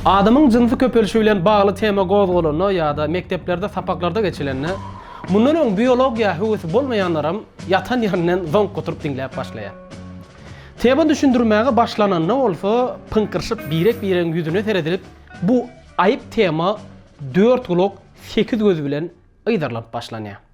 Adamyň jynsy köpelişi bilen bagly tema gozgalanda ýa-da mekdeplerde sapaklarda geçilende, mundan öň biologiýa höwesi bolmaýanlaram ýatan ýerinden zoňk oturyp diňläp başlaýar. Tema düşündirmäge başlananda bolsa pyňkyryşyp birek-biregiň ýüzüne seredilip bu aýyp tema dört gulak, sekiz göz bilen yzarlanyp başlanýar.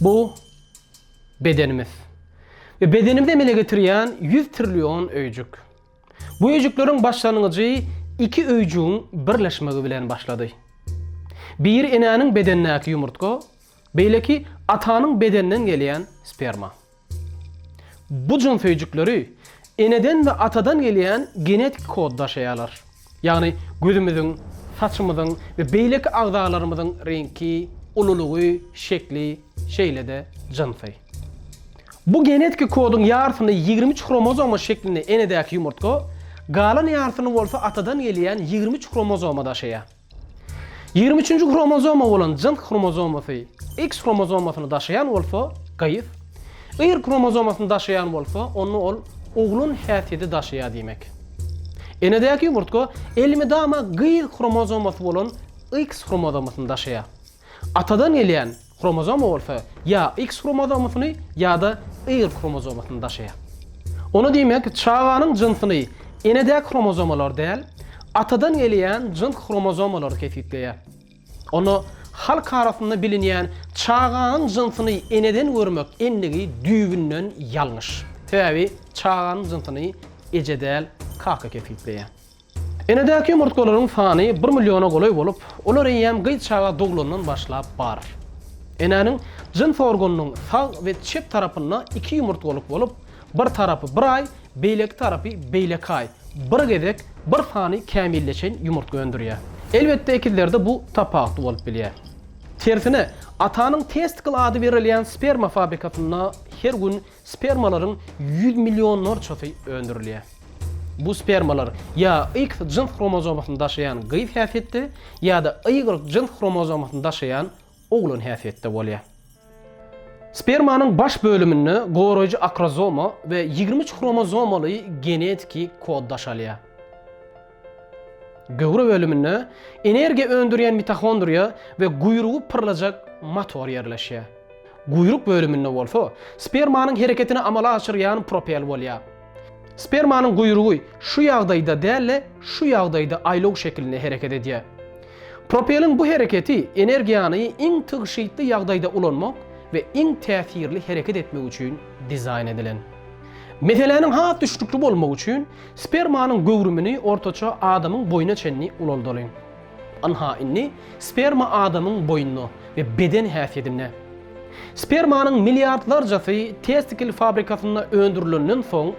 Bu bedenimiz. Ve bedenimizi emele getirýän 100 trillion öýjük. Bu öýjükleriň başlangyjy iki öýjügiň birleşmegi bilen başlady. Biri enäniň bedenindäki ýumurtga, beýleki atanyň bedeninden gelýän sperma. Bu jynsöýjükleri eneden we atadan gelýän genetik kod daşaýarlar. Ýagny gözümiziň, saçymyzyň we beýleki agzalarymyzyň reňki, ululygy, şekli, şeýle-de jynsy. Bu genetik kodyň ýarysyny ýigrimi üç hromozoma şeklinde enedäki ýumurtga, galan ýarysyny bolsa atadan gelýän ýigrimi üç hromozoma daşaýar. Ýigrimi üçünji hromozoma bolan jyns hromozomasy X hromozomasyny daşaýan bolsa, gyz, Y hromozomasyny daşaýan bolsa, onda ol oglan häsiýeti daşaýar diýmek. Enedäki ýumurtga elmydama gyz hromozomasy bolan X hromozomasyny daşaýar. Atadan gelýän Kromozoma bolsa ýa X kromozomasyny ýa-da Y kromozomasyny daşaýar. Ony diýmek, çaganyň jynsyny enedäki kromozomalar däl, atadan gelýän jyns kromozomalar kesgitleýär. Onda halk arasynda bilinýän çaganyň jynsyny eneden görmek endigi düýbünden ýalňyş. Sebäbi çaganyň jynsyny eje däl, kaka kesgitleýär. Enedäki ýumurtgalaryň sany bir milliona golaý bolup, olar eýýäm gyz çaga doglandan başlap bar. Enäniň jyns organynyň sag we çep tarapynda iki ýumurtgalyk bolup, bir tarapy bir aý, beýleki tarapy beýleki aý, bir gezek bir sany kämilleşen ýumurtga öndürýär. Elbetde, ekizlerde bu tapawutly bolup bilýär. Tersine, atanyň testikl ady berilýän sperma fabrikasynda her gün Spermalaryň ýüz millionlarçasy öndürilýär. Bu spermalar ýa X jyns hromozomasyny daşaýan gyz häsiýetde, ýa-da Y jyns hromozomasyny daşaýan oglan häsiýetde bolýar. Spermanyň baş bölüminde goraýjy akrozoma we ýigrimi üç hromozomaly genetiki kod daşalýar. Göwre bölüminde energiýa öndürýän mitohondriýa we guýrugy pyrlajak motor ýerleşýär. Guýruk bölüminde bolsa spermanyň hereketini amala aşyrýan propel bolýar. Spermanyň guýrugy şu ýagdaýda däl-de, şu ýagdaýda aýlaw şekilinde hereket edýär. Propeliň bu hereketi energiýany iň tygşytly ýagdaýda ulanmak we iň täsirli hereket etmek üçin dizaýn edilen. Meseläniň has düşnükli bolmagy üçin Spermanyň göwrümini ortaça adamyň boýuna çenli ulaldalyň. Ynha, indi sperma adamyň boýunda we beden häsiýedinde. Spermanyň milliardlarjasy testikl fabrikasynda öndürilenden soň,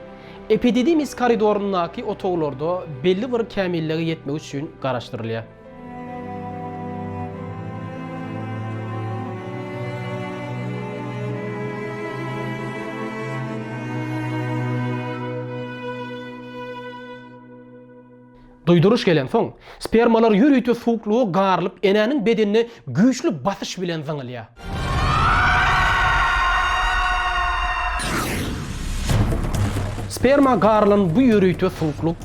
epididimis koridoryndaky otaglarda belli bir kämillige ýetmek üçin garaşdyrylýar. Duýduryş gelensoň, spermalar ýörite suwuklyga garylyp, enäniň bedenine Güýçli basyş bilen zyňylýar. Sperma garylan bu ýörite suwuklyk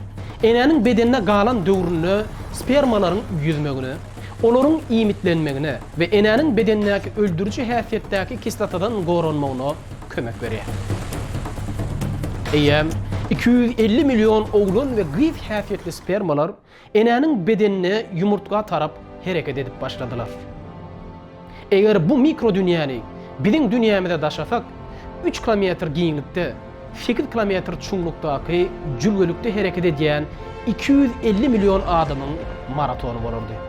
enäniň bedenine galan döwründe spermalaryň ýüzmegine, olaryň iýmitlenmegine we enäniň bedenindäki öldüriji häsiýetdäki kislotadan goranmagyna kömek berýär. Eýýäm iki ýüz elli million oglan we gyz häsiýetli spermalar Enäniň bedenine ýumurtga tarap hereket edip başladylar. Eger bu mikrodünýäni biziň dünýämize daşasak, üç kilometr giňlikde, sekiz kilometr çuňlukdaky jülgelikde hereket edýän iki ýüz elli million adamyň maratony bolardy.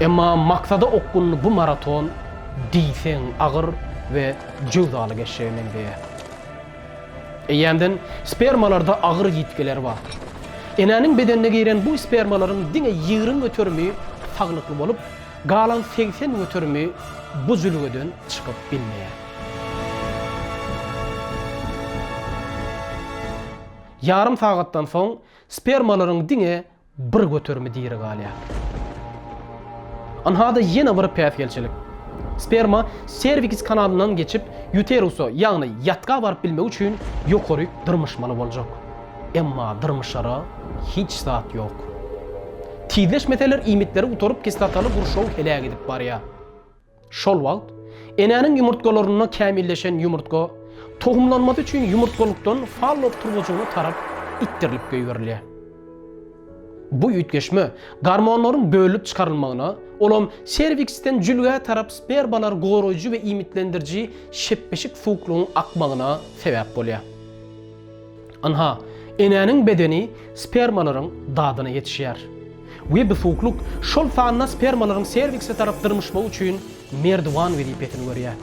Emma maksada okgunly bu maraton diýseň agyr we jöwzaly geçjege meňzeýär. Eýýämden spermalarda agyr ýitgiler bar. Enäniň bedenine giren bu spermalaryň diňe ýigrimi göterimi saglykly bolup, galan segsen göterimi bu jülgeden çykyp bilmeýär. Ýarym sagatdan soň spermalaryň diňe bir göterimi diri galýar. Ynha-da ýene bir päsgelçilik. Sperma serviks kanalyndan geçip, ýuterusa, ýagny ýatga baryp bilmegi üçin ýokaryk dyrmyşmaly boljak. Emma dyrmyşara hiç zat ýok. Tizleşmeseler iýmitleri gutaryp kislotaly gurşaw heläk edip barýar. Şol wagt, enäniň ýumurtgalarynda kämilleşen ýumurtga tohumlanmasy üçin ýumurtgalykdan fallop turbajygyna tarap itdirilip goýberilýär. Bu üýtgeşme gormonlaryň bölünip çykarylmagyna, olam serviksden jülgä tarap spermalary goraýjy we iýmitlendiriji şepbeşik suwuklygyň akmagyna sebäp bolýar. Ynha, enäniň bedeni spermalaryň dadyna ýetişýär. Webbi suwuklyk, şol sanda spermalaryň servikse tarap dyrmyşmagy üçin merdiwan wezipesini görýär.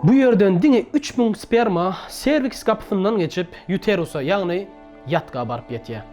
Bu ýerden diňe üç müň sperma serviks gapysyndan geçip, ýuterusa, ýagny ýatga baryp ýetýär.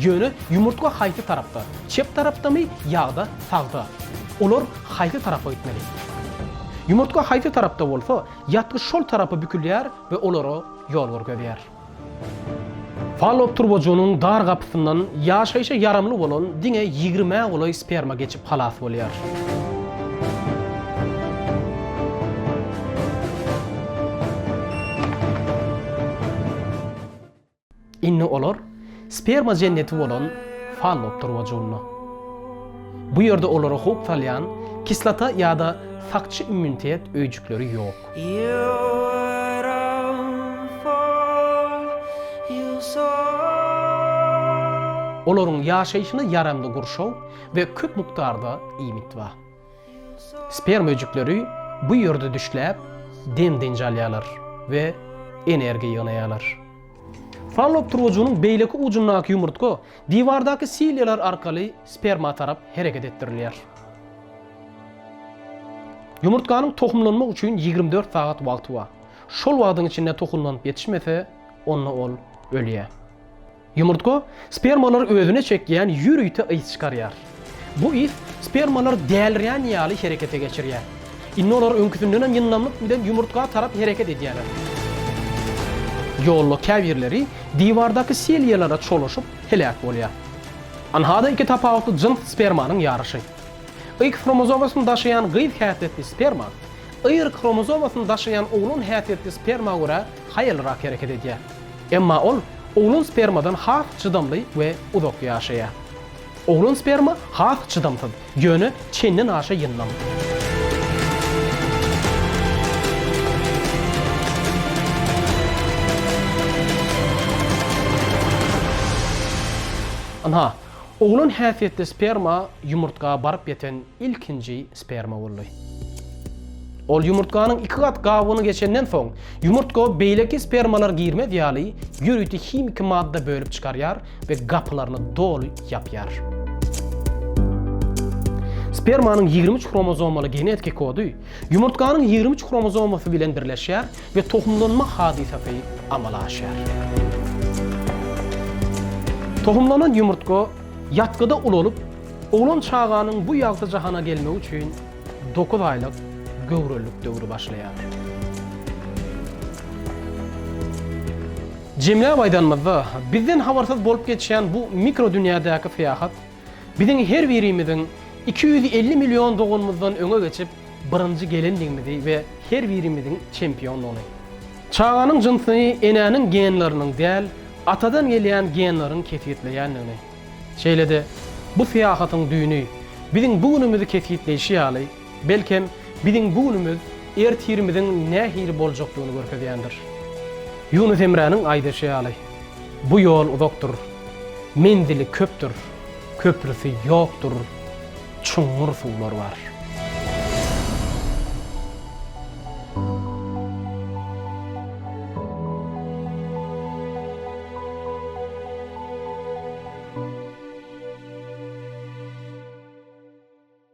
Ýöne ýumurtga haýsy tarapda, çep tarapdamy ýa-da sagda? Olar haýsy tarapa gitmeli? Ýumurtga haýsy tarapda bolsa, ýatgyç şol tarapa bükülýär we olara ýol görkezýär. Fallop turbajygynyň dar gapysyndan ýaşaýşa ýaramly bolan diňe ýigrimä golaý sperma geçip halas bolýar. Indi olar sperma jenneti bolan fallopdyr wojunda. Bu ýerde olara howp salýan kislota ýa-da sakçy immunitet öýjükleri ýok. Olaryň ýaşaýşyna ýaramly gurşaw we köp mukdarda iýmit bar. Sperma öýjükleri bu ýerde düşläp, dem-dynç alýarlar we energiýa ýygnaýarlar. Fallop turgajygynyň beýleki ujundaky ýumurtga diwardaky silýalar arkaly sperma tarap hereket etdirilýär. Ýumurtganyň tohumlanmak üçin ýigrimi dört sagat wagty bar. Şol wagtyň içinde tohumlanyp ýetişmese, onda ol ölýär. Ýumurtga spermalary özüne çekýän ýörite ys çykarýar. Bu ys spermalary dälirýän ýaly herekete geçirýär. Indi olar öňküsindenem ýyndamlyk bilen ýumurtga tarap hereket edýärler. Ýolda käbirleri diwardaky seliýalara çolaşyp, heläk bolýar. Ynha-da iki tapawutly jyns spermanyň ýaryşy. Y hromozomasyny daşaýan gyz häsiýetli sperma Y hromozomasyny daşaýan oglan häsiýetli sperma görä haýallyrak hereket edýär. Emma ol oglan spermadan has çydamly we uzak ýaşaýar. Oglan sperma has çydamsyz, ýöne çenden aşa ýyndam. Ynha, oglan häsiýetli sperma ýumurtga baryp ýeten ilkinji sperma boldy. Ol ýumurtganyň iki gat gabygyny geçenden soň, ýumurtga beýleki spermalar girmez ýaly ýörite himiki madda bölüp çykarýar we gapylaryny doly ýapýar. Spermanyň ýigrimi üç hromozomaly genetiki kody ýumurtganyň ýigrimi üç hromozomasy bilen birleşýär we tohumlanma hadysasy amala aşýar. Tohumlanan ýumurtga ýatgyda ulalyp, Oglan çaganyň bu ýagty jahana gelmegi üçin dokuz aýlyk göwrelilik döwri başlaýar. Jemläp aýdanymyzda, bizden habarsyz bolup geçýän bu mikrodünýädäki syýahat biziň her birimiziň iki ýüz elli million doganymyzdan öňe geçip, birinji gelendigimizi we her birimiziň çempiondygyny, çaganyň jynsyny enäniň genleriniň däl, atadan gelýän genleriň kesgitleýändigini, Şeýle-de, bu syýahatyň düýni, biziň bu günümizi kesgitleýşi ýaly, belkem, biziň bu günümiz ertirimiziň nähili boljakdygyny görkezýändir. Ýunus Emräniň aýdyşy ýaly, Bu ýol uzakdyr, menzili köpdür, köprüsi ýokdur. çuňňur suwlar bar.